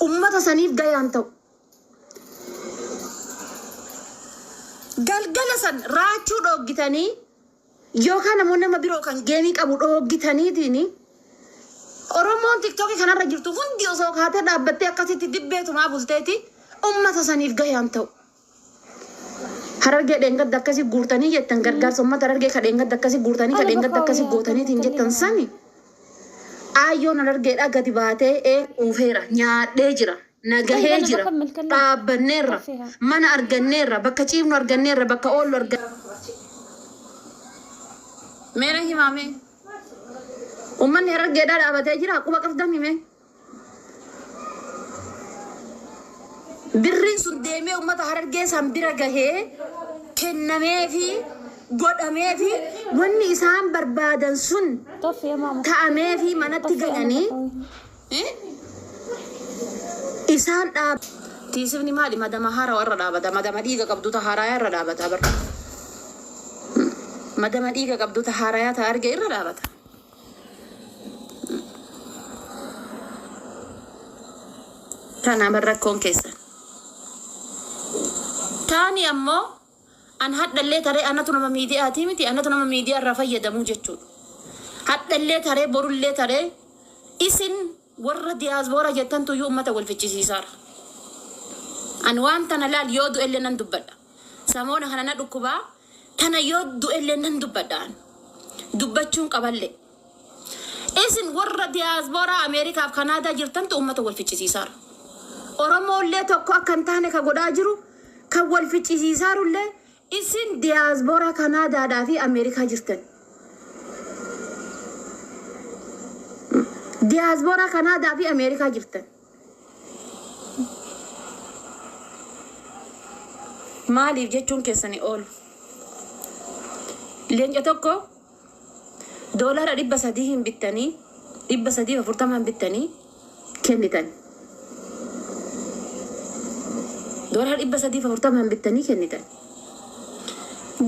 ummata saniif gayaan ta'u. Galgala san raachuu dhooggitanii yookaan ammoo nama biroo kan geemii qabu dhooggitaniitiin Oromoon tiktookii kanarra jirtu hundi osoo kaatee dhaabbattee akkasitti dibbeetumaa bulteeti ummata saniif gayaan ta'u. Harargee dheengadda akkasi guurtanii jettan gargaarsa ummata Harargee ka dheengadda akkasi guurtanii ka dheengadda akkasi gootaniitiin jettan sani Aayyoon Harargeedhaa gadi baatee ee quufeera nyaadhee jira na gahee jira dhaabbanneerra mana arganneerra bakka ciifnu arganneerra bakka oollu arganneerra mee na himaa mee ummanni Harargeedhaa dhaabatee jiraa quba qabdamii mee. Birriin sun deemee uummata Harargee san bira gahee kennameefi godhameefi wanni isaan barbaadan sun ta'ameefi manatti galanii isaan dhaab. Tiisifni maali madama haarawa irra dhaabata madama dhiiga qabdu ta haaraya irra dhaabata bar madama dhiiga qabdu ta haaraya ta arge irra dhaabata. Kana bar rakkoon keessan. Taani ammoo an hadhallee taree anatu nama miidiyaatii miti anatu nama miidiyaa irraa fayyadamuu jechuudha. Hadhallee taree borullee taree isin warra diyaasboora jettantu iyyuu uummata wal fichisiisaara. An waan tana laal yoo du'ellee nan dubbadha. Samoona kana na dhukkubaa Tana yoo du'ellee nan dubbadha an. Dubbachuun qaballee. Isin warra diyaaspooraa Ameerikaaf Kanaadaa jirtantu uummata wal ficcisiisaara. Oromoollee tokko akka hin taane ka godhaa jiru, kan wal ficcisiisaarullee isin diyaaspooraa Kanaadaadhaa fi Ameerikaa jirtan. Diyaaspooraa Kanaadaa fi Ameerikaa jirtan. Maaliif jechuun keessan hin oolu. Leenca tokko doolaara dhibba sadii hin bittanii dhibba sadiif afurtamaan bittanii kennitan. Doolaara dhibba sadiif afurtamaan bittanii kennitan.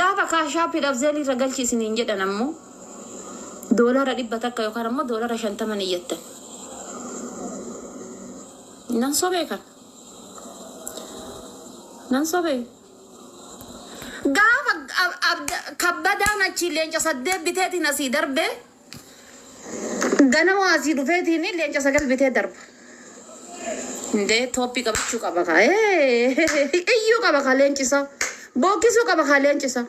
Gaafa kaashaappiidhaaf zeelii irra galchi isiniin jedhan ammoo Doolara dhibba takka yookaan ammoo doolara shantama ni iyyattan. Nan sobee kan? Nan sobee? Gaafa ab- abda- kabbadaan achi leenca saddeet biteetiin asii darbee ganama asii dhufeetiin leenca sagal bitee darba. Indee tooppii qabachuu qaba kaa. Ee, Iyyuu qaba kaa leenci isaa. Bookkisuu qaba kaa leenci isaa.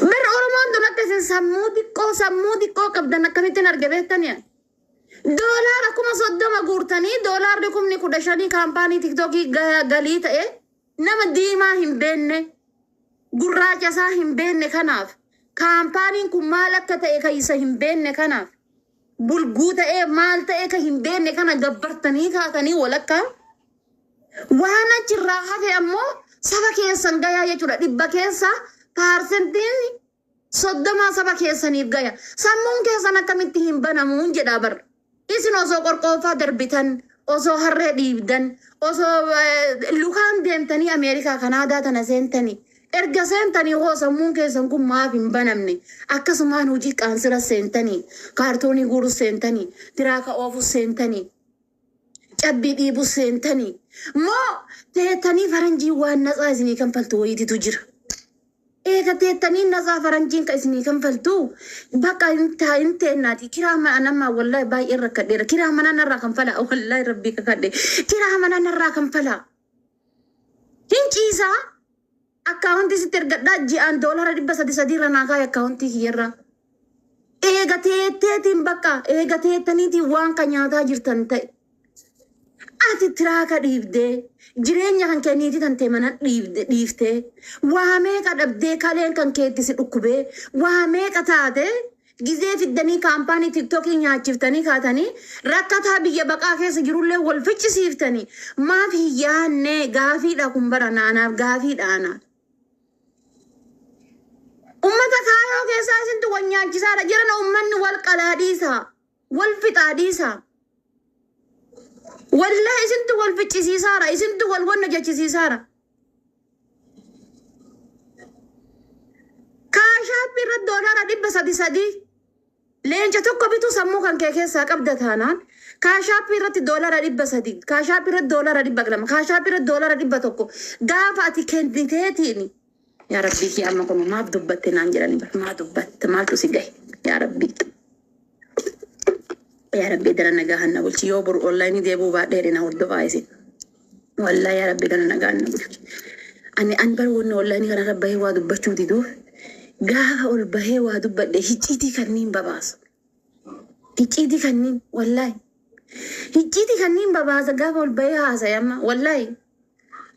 Bar Oromoon tun akka isin sammuu xiqqoo sammuu xiqqoo qabdan akkamittiin arge beektanii? Doolaara kuma soddoma guurtanii doolaarri kumni kudha shanii kaampaanii tiktookii ga- galii ta'e nama diimaa hin beenne gurraacha isaa hin beenne kanaaf kaampaaniin kun maal akka ta'e kan isa hin beenne kanaaf bulguu ta'ee maal ta'e kan hin beenne kana gabbartanii kaatanii walakkaa Waan achirraa hafe ammoo saba keessan gayaa jechuudha. Dhibba keessaa paarsentiin soddomaa saba keessaniif gaya. Sammuun keessan akkamitti hin banamuun jedhaa bar. Isin osoo qorqooffaa darbitan, osoo harree dhiibdan, osoo eh, lukaan deemtanii Ameerikaa Kanaadaa tana seentanii. Erga seentanii hoo sammuun keessan kun maaf hin banamne? Akkasumaan hojii qaansira seentanii, kaartoonii guurus seentanii, tiraaka oofus seentanii. cabbii dhiibuu seentanii moo teettanii faranjiin waan natsaa isinii kanfaltu wayititu jira. Eega teettanii natsaa faranjiin ka isinii kanfaltu bakka hin taa hin teennaati. Kiraa mana anammaa wallahi baay'een rakkadheera. Kiraa manaa narraa kanfalaa wallahi rabbii kakadhe. Kiraa manaa narraa kanfalaa. Hin ciisaa. Akkaawontii sitti ergadhaa ji'aan doolara dhibba sadi sadi irra naa kaayi akkaawontii kiyya irra. Eega teetteetiin bakka eega teettaniitiin waan ka nyaataa jirtan ta'i. Ati tiraaka dhiibdee jireenya kan kee niitii tantee mana dhiibde dhiiftee waa meeqa dhabdee kaleen kan kee itti si dhukkubee waa meeqa taatee Gizee fiddanii kaampaanii tiktokii nyaachiftanii kaatanii rakkataa biyya baqaa keessa jirullee wal ficcisiiftanii maaf hin yaannee gaafiidha kun bara na anaaf gaafiidha ana. Ummata kaayoo keessaa isintu wal nyaachisaadha jirana ummanni wal qalaa dhiisaa. Wal fixaa dhiisaa. Wallahi isintu wal ficcisiisaara, isintu wal wanna jechisiisaara. Kaashaappii irratti doolaara dhibba sadi sadii leenca tokko bituu sammuu kan kee keessaa qabda taanaan kaashaappii irratti doolaara dhibba sadii kaashaappii irratti doolaara dhibba lama kaashaappii irratti doolaara dhibba tokko gaafa ati kenniteetiin Yaa rabbii kiyya amma kunoo maaf dubbatte naan jedhani bar maa dubbatta maaltu si gahe yaa rabbii yaa rabbii dara nagaahan na bulchi yoo boru online deebuu baadhee jedhe na hordofaa isin wallaa yaa rabbii dara nagaahan na bulchi ani an bar wanni online kana irra bahee waa dubbachuu diduu gaafa ol bahee waa dubbadhe hicciitii kanniin babaasu hicciitii kanniin wallaahi hicciitii kanniin babaasa gaafa ol bahee haasa'e amma wallaahi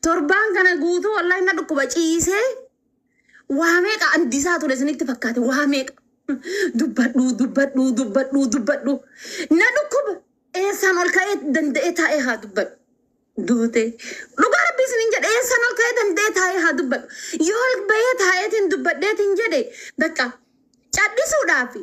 Torbaan kana guutuu wallahi na dhukkuba ciisee waa meeqa andisaa ture isinitti fakkaate waa meeqa. Dubbadhuu dubbadhuu dubbadhuu dubbadhuu na dhukkuba eessaan ol ka'ee danda'ee taa'ee haa dubbadhu. Duutee dhugaa rabbii isinin jedhe eessaan ol ka'ee danda'ee taa'ee haa dubbadhu. Yoo ol ba'ee taa'eetiin dubbadheetiin jedhe bakka cadhisuudhaafi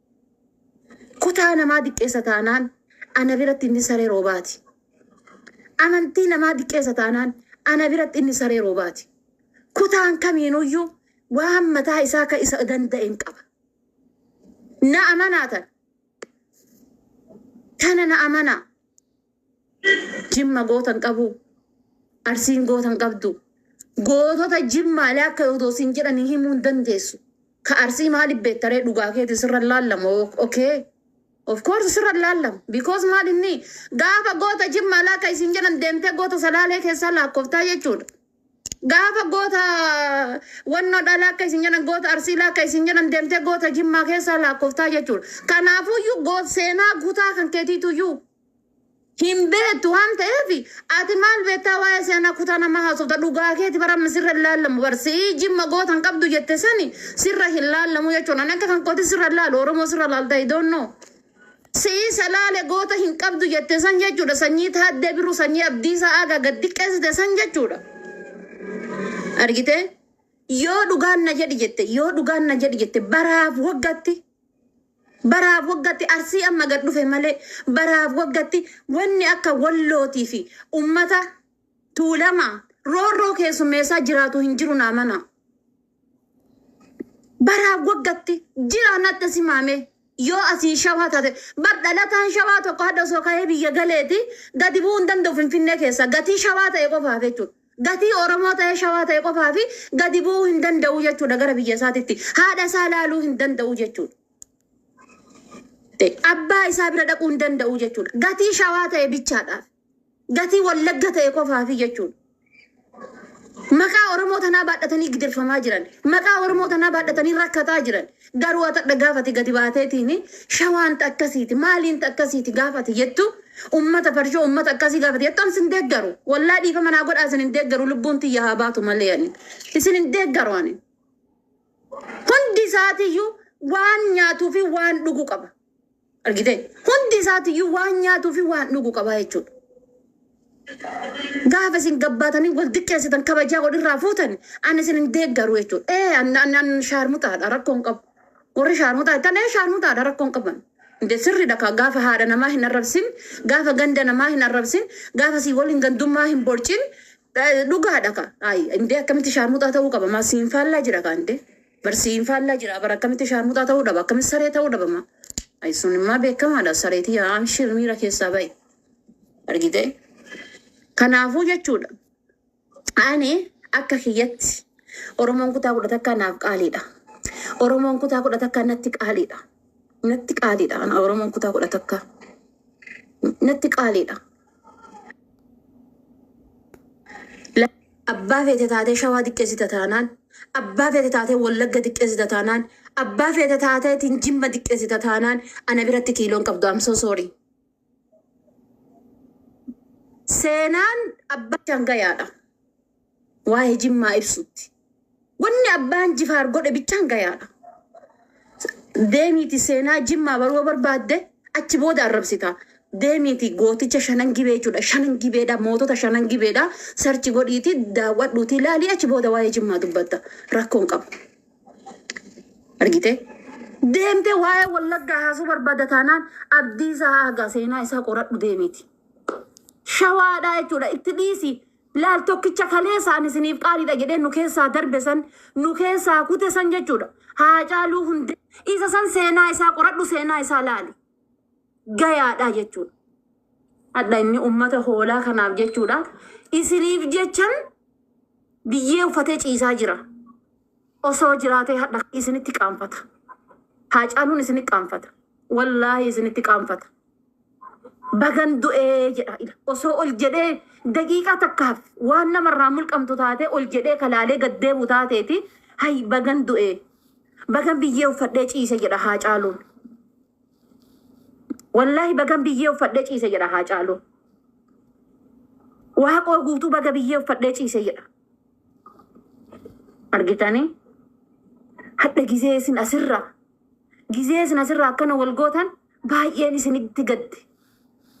Kutaa namaa diqqeessa taanaan ana biratti inni saree roobaati. Amantii namaa diqqeessa taanaan ana biratti inni saree roobaati. Kutaan kamiinuyyuu waan mataa isaa ka isa danda'een qaba. Na amanaa tana. Tana na amanaa. Jimma goota hin qabu. Arsiin goota hin qabdu. Gootota Jimmaalee akka odoo siin jedhanii himuu hin dandeessu. Ka Arsii maaliif beekta ree dhugaa keeti sirra hin laallamu okay. Of course sirra hin laallamu because maal inni gaafa goota Jimmaalee akka isin jedhan deemtee goota Salaalee keessaa laakkoftaa jechuudha. Gaafa goota wannoo dhalaa akka isin jedhan goota Arsiilaa akka isin jedhan deemtee goota Jimmaa keessaa laakkoftaa jechuudha. Kanaafuyyuu goot seenaa gutaa kan keetiituyyuu Hin beektu waan ta'eef ati maal beektaa waa'ee seenaa kutaa namaa haasofta dhugaa keeti bara amma sirra hin laallamu bar si'ii jimma goota hin qabdu jette sani sirra hin laallamu jechuun ani akka kan kooti sirra hin laalu oromoo sirra laalta I don't know si'ii salaale goota hin qabdu jette san jechuudha sanyii taaddee birru sanyii abdiisaa aagaa gad xiqqeessite san jechuudha argitee yoo dhugaan na jedhi jette yoo dhugaan na jedhi jette baraaf waggatti Baraaf waggatti Arsii amma gad dhufe malee baraaf waggatti wanni akka Wallootii fi ummata Tuulamaa roorroo keessummeessaa jiraatu hin jiru naa manaa. Baraaf waggatti jiraan adda simaamee yoo asii shawaa taate bar dhalataan shawaa tokko hadda osoo ka'ee biyya galeeti gadi bu'uu hin danda'u finfinnee keessaa gatii shawaa ta'e qofaaf jechuudha. Gatii Oromoo ta'ee Shawaa ta'e qofaaf gadi bu'uu hin danda'u jechuudha gara biyya isaatitti. Haadha isaa laaluu hin danda'u jechuudha. Abbaa isaa bira dhaquu hin danda'u jechuudha. Gatii Shawaa ta'e bichaadhaaf. Gatii Wallagga ta'e qofaaf jechuudha. Maqaa Oromoo tanaa baadhatanii gidirfamaa jiran. Maqaa Oromoo tanaa baadhatanii rakkataa jiran. Garuu ati hadha gaafa ati gadi baateetiin shawaan ta akkasiiti maaliin ta akkasiiti gaafa ati jettu ummata parshoo ummata akkasii gaafa ati jettu an sin deeggaru wallahi dhiifama naa godhaa isin hin deeggaru lubbuun tiyya haa baatu malee ani isin hin deeggaru ani hundi isaatiyyuu waan nyaatuu fi waan dhugu qaba Argitee? Hundi isaatiyyuu waan nyaatuu fi waan dhugu qabaa jechuudha. Gaafa isin gabbaatanii wal diqqeessitan kabajaa wal irraa fuutan ani isin hin deeggaru jechuudha. Ee an an an shaarmutaadha rakkoon qabu. Warri shaarmutaa jettan ee shaarmutaadha rakkoon qaban. Inde sirriidha kaa gaafa haadha namaa hin arrabsin, gaafa ganda namaa hin arrabsin, gaafa sii waliin gandummaa hin borcin eh, dhugaadha kaa. Ayi indee akkamitti shaarmutaa ta'uu qaba maa siin faallaa jira kaa indee. Bar siin faallaa jiraa bar akkamitti shaarmuxaa ta'uu dhaba akkamitti saree ta'uu dhaba ma ay sun immaa beekamaadha saree tiyyaa amshir miira keessaa ba'i argite kanaafuu jechuudha ani akka kiyyatti oromoon kutaa kudha takkaa naaf qaaliidha oromoon kutaa kudha takkaa natti qaaliidha natti qaaliidha ana oromoon kutaa kudha takkaa natti qaaliidha La- Abbaa feete taatee shawaa diqqeessita taanaan, abbaa feete taatee wallagga diqqeessita taanaan, abbaa feete taateetiin jimma diqqeessita taanaan ana biratti kiiloon qabdu I'm so sorry. Seenaan abbaa shangayaadha. Waa'ee Jimmaa ibsutti. Wanni Abbaan Jifaar godhe bichaan gayaadha. Deemiiti seenaa Jimmaa baruu yoo barbaadde achi booda arrabsita. Deemiiti gooticha shanan gibee jechuudha. Shanan gibeedha, mootota shanan gibeedha. Sarchi godhiiti daawwadhuuti ilaali achi booda waa'ee Jimmaa dubbatta. Rakkoon qabu. Argitee? Deemtee waa'ee Wallaggaa haasuu barbaadda taanaan Abdiisaa Aagaa seenaa isaa qoradhu deemiiti. Shawaadhaa jechuudha itti dhiisi. Laal tokkicha kaleessa ani isiniif qaaliidha jedhee nu keessaa darbe san, nu keessaa kute san jechuudha. Haacaaluu Hundee. Isa san seenaa isaa qoradhu, seenaa isaa laali. Gayaadha jechuudha. Hadha inni ummata hoolaa kanaaf jechuudha. Isiniif jechan biyyee uffatee ciisaa jira. Osoo jiraatee hadha isinitti qaanfata. Haacaaluun isinitti qaanfata. Wallaahi isinitti qaanfata. Bagan du'ee jedha ila. Osoo ol jedhee daqiiqaa takkaaf waan namarraa mulqamtu taatee ol jedhee kalaalee gad deebu taateeti hay bagan du'ee. Bagan biyyee uffadhee ciise jedha haacaaluun. Wallaahi bagan biyyee uffadhee ciise jedha haacaaluun. Waaqoo guutuu baga biyyee uffadhee ciise jedha. argitanii hadha gizee isin asirraa gizee isin asirraa akkana wal gootan baay'een isinitti gadde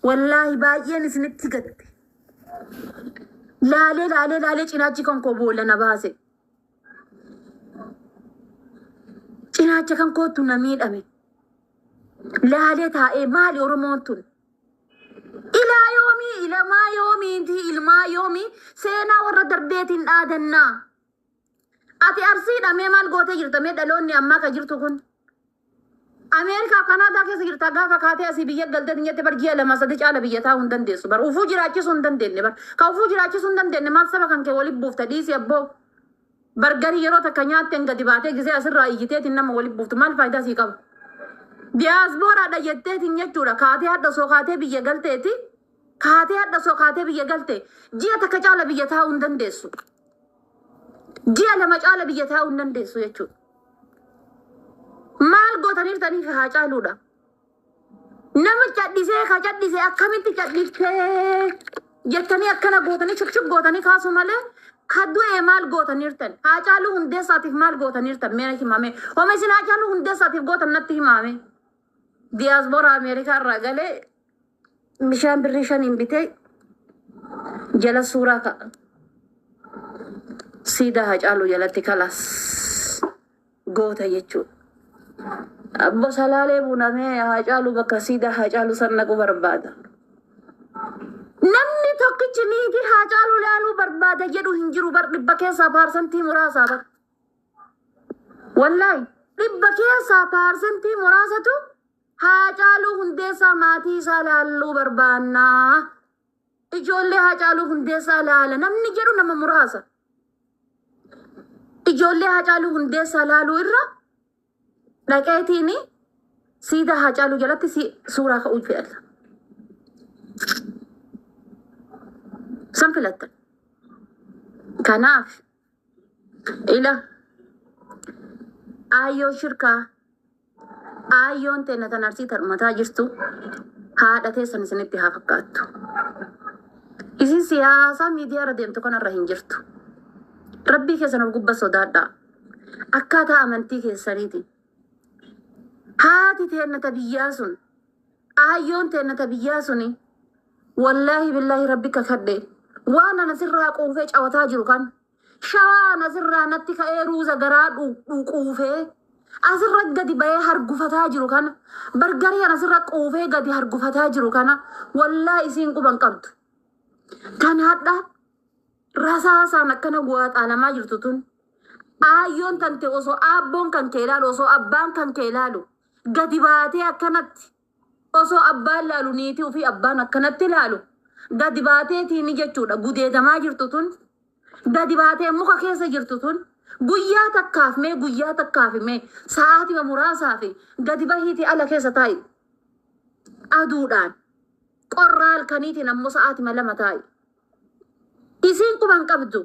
wallaahi baay'een isinitti gadde laalee laalee laalee cinaachi kan koo boolla na baase cinaacha kan kootu na miidhame laalee taa'ee maali oromoon tun Ilaa yoomii, ilamaa yoomii, inti ilmaa yoomii seenaa warra darbeetiin dhaadannaa. Ati arsiidha mee maal gootee jirta mee dhaloonni ammaa ka jirtu kun. Ameerikaa Kanaadaa keessa jirta gaafa kaatee asii biyya galtee dinyatte bar ji'a lama sadii caala biyya taa'uu hin dandeessu bar ufuu jiraachisuu hin dandeenye bar ka ufuu jiraachisuu hin dandeenye maal saba kan kee waliin buufta dhiisi abboo. Bargarii yeroo takka nyaatteen gadi baatee gisee asirraa iyyiteetiin nama wali buuftu maal faayidaa sii qaba? Diyaasbooraadha jetteetiin jechuudha kaatee hadha osoo kaatee biyya galteeti kaatee hadha osoo kaatee biyya galte ji'a takka caala biyya taa'uu hin dandeessu. Ji'a lama caala biyya taa'uu hin dandeessu jechuudha. Maal gootaniirtaniif haa caaluudha. Nama cadhisee ka cadhise akkamitti cadhiftee jettanii akkana gootanii shukshuk gootanii kaasuu malee ka du'e maal gootaniirtan haacaaluu hundeessaatiif maal gootaniirtan mee himame homa isin haacaaluu hundeessaatiif gootan natti himaame diyaasbooraa ameerikaa irraa galee bishaan birrii shaniin bitee jala suuraa ka'a siidaa haacaaluu jalatti kalaas. goota jechuudha. Abbo Salaalee Buna mee Haacaaluu bakka siidaa Haacaaluu san dhaquu barbaada. Namni tokkichi niitii Haacaaluu laaluu barbaada jedhu hin jiru bar dhibba keessaa paarsantii muraasaa bar. Wallaahi dhibba keessaa paarsantii muraasatu Haacaaluu hundeessaa maatii isaa laalluu barbaannaa Ijoollee Haacaaluu Hundeessaa laala namni jedhu nama muraasa. Ijoollee Haacaaluu Hundeessaa laaluu irra dhaqeetiin siidaa Haacaaluu jalatti si- suuraa ka'uu filadha. San filatta. Kanaaf Ila aayyoo shirkaa aayyoon teenna tan arsii tan umataa jirtu haadha teessan isinitti haa fakkaattu. Isin siyaasaa miidiyaa irra deemtu kanarra hin jirtu. Rabbii keessan of gubba sodaadhaa. Akkaataa amantii keessaniiti. Haati teenna ta biyyaa sun Aayyoon teenna ta biyyaa suni wallaahi billaahi rabbi kakadhe waan ana sirraa quufee cawataa jiru kan shawaa ana sirraa natti ka'ee ruuza garaa dhu- dhu- quufee asirra gadi ba'ee hargufataa jiru kana bargarii ana sirra quufee gadi hargufataa jiru kana wallaahi isiin quban qabdu tan hadha rasaasaan akkana guwaaxaalamaa jirtu tun aayyoon tante osoo aabboon kan kee ilaalu osoo abbaan kan kee ilaalu Gadi baatee akkanatti osoo abbaan laalu niitii ofii abbaan akkanatti laalu gadi baatee tiini jechuudha gudeedamaa jirtu tun gadi baatee muka keessa jirtu tun guyyaa takkaaf mee guyyaa takkaaf mee sa'aatima muraasaa fi gadi bahiitii ala keessa taa'i aduudhaan qorraa halkaniitiin ammoo sa'aatima lama taa'i isiin quban qabdu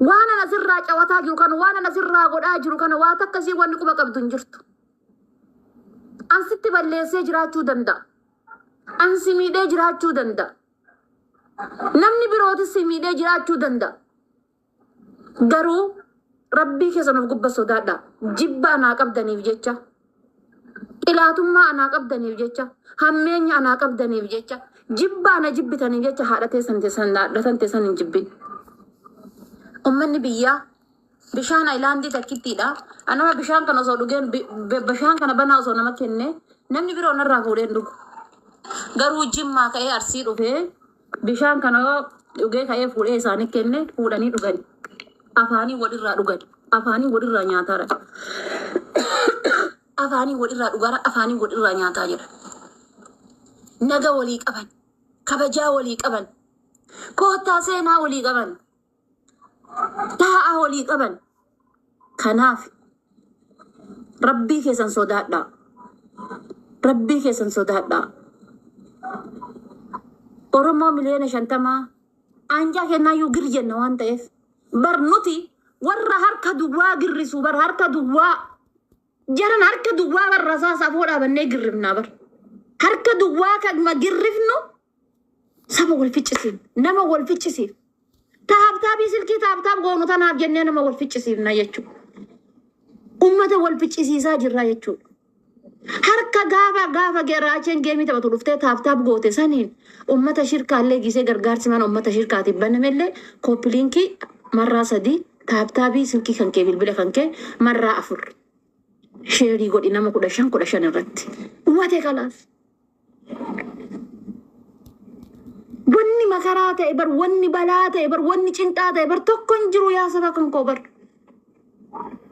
Waan ana sirraa cawataa jiru kana waan ana sirraa godhaa jiru kana waa takka sii wanni quba qabdu hin jirtu. An sitti balleessee jiraachuu danda'a. An si miidhee jiraachuu danda'a. Namni birootis si miidhee jiraachuu danda'a. Garuu rabbii keessan of gubba sodaadha. Jibba anaa qabdaniif jecha Xilaatummaa anaa qabdaniif jecha, hammeenya anaa qabdaniif jecha, jibba ana jibbitaniif jecha haadha teessan teessan haadhatan teessan hin jibbin. Ummanni biyyaa bishaan ayilaandii takkittiidha. Anama bishaan kana osoo dhugeen bi- bi- bishaan kana banaa osoo nama kenne namni biroo narraa fuudheen dhugu. Garuu jimmaa ka'ee arsii dhufee Bishaan kana yoo dhugee ka'ee fuudhee isaanii kenne fuudhanii dhugani. Afaanii wal irraa dhugani. Afaanii wal irraa nyaataara. Afaanii wal irraa dhugaara. Afaanii wal irraa nyaataa jedha. Naga walii qaban. Kabajaa walii qaban. Koottaa seenaa walii qaban. taa'aa walii qaban kanaaf rabbii keessan sodaadhaa rabbii keessan sodaadhaa oromoo miliyoona shantamaa aanjaa kennaayyuu gir jenna waan ta'eef bar nuti warra harka duwwaa girrisu bar harka duwwaa Jaran harka duwwaa bar rasaasa afoo dhaabannee girrifnaa bar. Harka duwwaa kanuma girrifnu saba wal ficcisiif nama wal ficcisiif taabtaabii silkii taabtaab goonu tanaaf jennee nama wal ficcisiifna jechuudha. Uummata wal ficcisiisaa jirra jechuudha. Harka gaafa gaafa geraacheen geemii taphatu dhuftee taabtaab goote saniin uummata shirkaallee gisee gargaarsi mana uummata shirkaatiif banamellee kooppiliinkii marraa sadii Taaptaabii silkii kankee bilbila kankee marraa afur sheerii godhi nama kudha shan kudha shan irratti. Umatee kalaas. Wanni makaraa ta'e bar wanni balaa ta'e bar wanni cinqaa ta'e bar tokko hin jiru yaa saba kan koo bar.